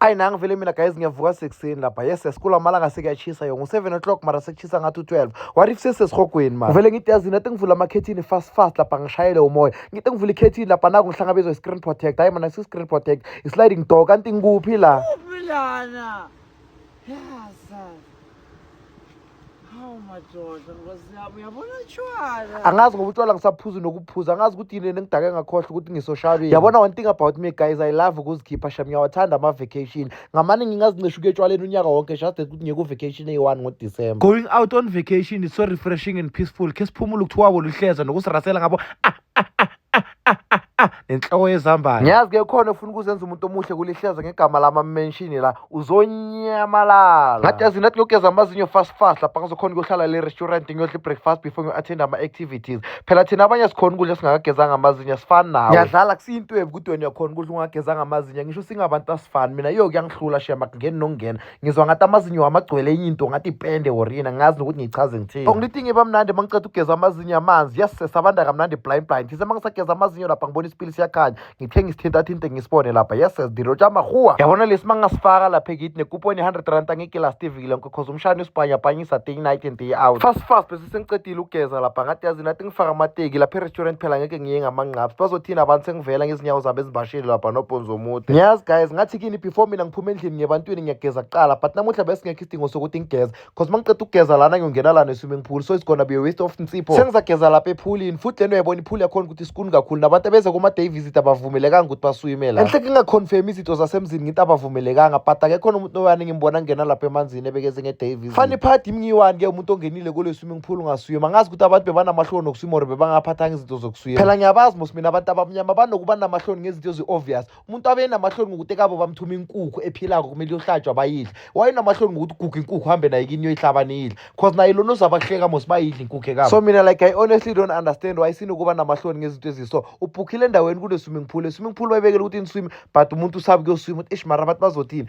ayi nangi vele mina guys ngiyavuka sekuseni lapha yes esikula amalanga sekuyatshisa yo ngu-seven o'clock mara sekutshisa ngathi u-twelve what if sesesihogweni mani vele ngithi yazini ati ngivula amakhethini fast fast lapha ngishayele umoya ngithi ngivula ikhethini lapha naku ngihlangabezwa i-screen protect hayi mana si-screen protect i-sliding door kanti ngikuphi la Bilana. Yes. Hawu madoda, ngozi yami uyabona utshwala. angazi ngoba utshwala ngisaphuzi nokuphuza angazi ukuthi yini engidake ngakhohlwa ukuthi ngisoshabeni yabona one thing about me guys i love ukuzikhipha sham ngiyawathanda ama-vacation ngamane ngingazinceshi ukuya etshwaleni unyaka wonke just that ukuthi ngiyekuvacation eyi-one ngodisemba going out on vacation is so refreshing and peaceful khe siphumule ukuthiwako luhleza nokusirasela ngabo ah, ah, ah, nenhloko yezambane ngiyazi ke khona ufuna ukuzenza umuntu omuhle kulihleza ngegama lami amenshini la uzonyamalala ngathi yazi nathi ngiyogeza amazinyo fast fast lapha ngizokhona ukuyohlala le restaurant ngiyodla i-breakfast before ngiyo-attend ama-activities phela thina abanye sikhona ukudla singakagezanga amazinyo asifani nawo ngiyadlala kusiyintwebi ukuthi wena uyakhona ukudla ungagezanga amazinyo ngisho singabantu asifani mina iyo kuyangihlula shema kungeni nokungena ngizwa ngathi amazinyo wami agcwele enye into ngathi ipende or yini angazi nokuthi ngiyichaze ngithini ongilintinga iba mnandi uma ngiceda ukugeza amazinyo amanzi yasisesa abanda kamnandi blind blind ngise uma ngisageza amazinyo lapha ngibona isipili siyakhanya ngithe ngisithintathinte ngisibone lapha yasses ndirotsha amahuwa yabona lesi uma ngasifaka lapha ekithi nekuponi i-hundred rand angikilastiviki lonke cause umshana usibhanyabhanyisa day night and day out fast fast sengicedile ukugeza lapha ngathi yazi nathi ngifaka amateki lapha e-restaurant phela ngeke ngiye ngamanqaps bazothini abantu sengivela ngezinyawo zabo ezibashile lapha nobhonzo omude ngiyazi guys ngathi kini before mina ngiphuma endlini ngebantwini ngiyageza kuqala but namuhla besingekho isidingo sokuthi ngigeze cause uma ngiqeda ukugeza lana ngiyongena lana e-swimming pool so it's gonna be a waste of nsipho sengizageza lapha ephulini futhi lento uyayibona iphuli yakhona ukuthi sikuni kakhulu nabantu abeza kuma-day visit abavumelekanga ukuthi baswime la enhle ngingaconfirm izinto zasemzini ngithi abavumelekanga but akekhona umuntu noyani ngimbona ngena lapha emanzini ebekeze nge-day fanele iphathi imngiwani-ke umuntu ongenile kule swimming pool ngasuye mangazi ukuthi abantu bebanamahloni nokuswima or bebangaphathanga izinto zokuswima phela ngiyabazi mos mina abantu abamnyama banokuba namahloni ngezinto ezi-obvious umuntu abe enamahloni ngokuthi ekabo bamthuma inkukhu ephilako kumele iyohlatshwa bayidle wayenamahloni ngokuthi guga inkukhu hambe naye kini yoyihlaba niyidle cause naye lona uzabahleka mos bayidle inkukhu ekabo so mina like i honestly don't understand why sinokuba namahloni ngezinto eziso ubhukhile endaweni kule swimming pool e swimming pool bayibekele ukuthi niswime but umuntu usabe kuyoswima ukuthi ish mara abantu bazothini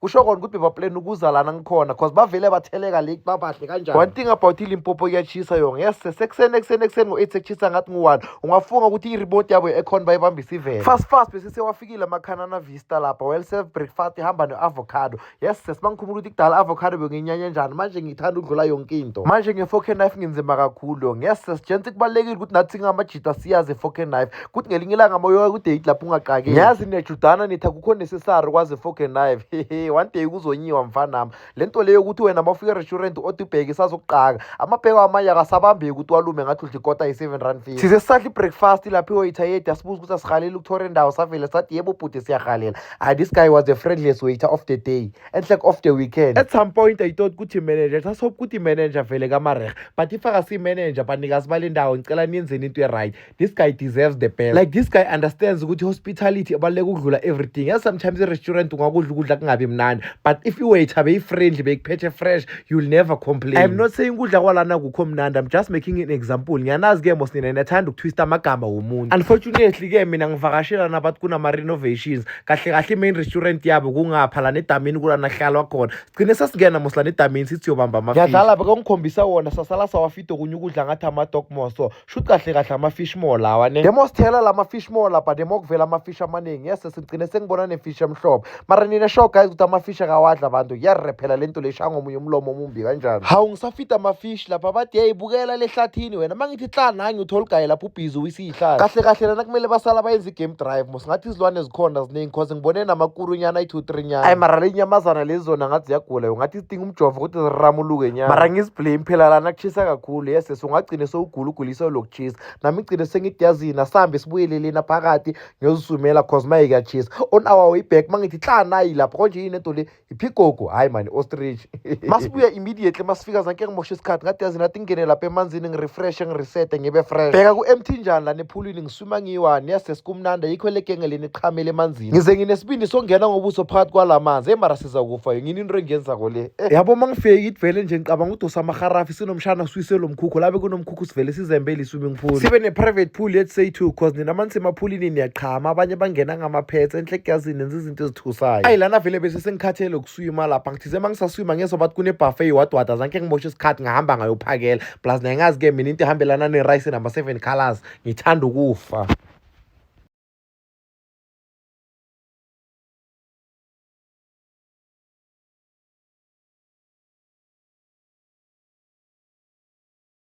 kusho kona ukuthi bebaplan ukuza lana ngikhona cause bavele batheleka le babahle kanjani one thing about ilimpopo iyatshisa yona yes sekuseni ekuseni ekuseni ngo-eight sekushisa ngathi ngu-one ungafunga ukuthi i-remote yabo ekhona bayibambise ivele fast fast bese sewafikile amakhanana vista lapha well serve breakfast ihamba ne-avocado yes sesibangikhumbula ukuthi kudala avocado benginyanya njani manje ngithanda ukudlula yonke into manje nge-four can knife nginzima kakhulu yes sesijenti kubalulekile ukuthi nathi ngamajita siyazi i-four can knife kuthi ngelinye ilanga moyoya kudate lapho ungaqakeli ngiyazi nejudana nithi akukho necessary kwaze foke knife hehe one day kuzonyiwa mfanami le nto leyo ukuthi wena mawufika erestaurant othi ubheke isazokuqaka amabheko amanye akasabambeki ukuthi walume ngathi udla ikota yi-seven rand fee size sisadla i-breakfast lapho iwayithayedi asibuza ukuthi asihaleli ukuthora indawo savele sathi yebo bhuti siyahalela hayi this guy was the friendliest waiter of the day and like of the weekend at some point i thought ukuthi manager sasophi ukuthi manager vele kamarehe but if akasiyi manager banikazi bale ndawo ngicela niyenzeni into e-right this guy deserves the best like this guy understands ukuthi hospitality ebaluleka ukudlula everything yes sometimes irestaurant ungakudla ukudla kungabi mnandi but if iwaiter beyifriendly beyikuphethe fresh you'll never complain i'm not saying ukudla kwalana kukho mnandi i'm just making an example ngiyanazi ke mos nina niyathanda ukutwista amagama womuntu unfortunately ke mina ngivakashela nabathi kunama-renovations kahle kahle i-main restaurant yabo kungapha lana edamini kulanahlalwa khona sigcine sasingena mos lana edamini sithi yobamba amafishi ngiyadlala bekongikhombisa wona sasala sawafida okunye ukudla ngathi ama-dogmos so sho kahle kahle ama-fish more lawa ne demo sithela lama-fish more lapha demo kuvela ama-fish amaningi yes sigcine sengibona ne-fish emhlophe mara nina sho guys ukuthi ama-fish akawadla abantu kuyarephela le nto le shaya ngomunye umlomo omumbi kanjani hawu ngisafida ama-fish lapha bathi yeyi bukela lehlathini wena uma ngithi hla nangi utholugaye lapho ubhizi uyisiyihlala kahle kahle lana kumele basala bayenza i-game drive ngathi izilwane zikhona ziningi because ngibone namakuru nyana ayi-two three nyana ayi mara le nyamazana lezi zona ngathi ziyagula yo ngathi zidinga umjovo ukuthi ziramuluke nyana mara ngiziblame phela lana kushisa kakhulu yes yes ungagcine sowugula ugulisa lokutshisa nami igcine sengidiyazina sihambe sibuyelelena phakathi ngiyozisumela cause maye kuyatshisa on our way back mangithi hla nayi lapho konje yini into le iphikogo hayi mani ostrich masibuya immediately masifika zanke ngimoshe isikhathi ngathi yazi nathi ngingene lapha emanzini ngirefreshe ngiresete ngibe fresh bheka ku-emthinjani lana ephulwini ngiswima ngiyiwani yasesi kumnanda yikho elegenge leni iqhamele emanzini ngize nginesibindi songena ngobuso phakathi kwala manzi eyi mara siza kufa yo ngini into engiyenzako le eh. yabo uma ngifike ngidivele nje ngicabanga udosa amaharafi sinomshana swiswe lo mkhukhu labe kunomkhukhu sivele sizembele i-swimming pool sibe ne-private pool yet say two cause nina mani semaphulini niyachama abanye bangena ngamaphetse enhle kuyazini nenzizi into ezithusayo ayi lana vele bese sengikhathele ukuswima lapha ngithize uma ngisaswima ngeso bathi kunebuffet yiwadwada zanke ngimoshe isikhathi ngihamba ngayophakela plus naye ngazi-ke mina into ehambelana nerice nama-seven colors ngithanda ukufa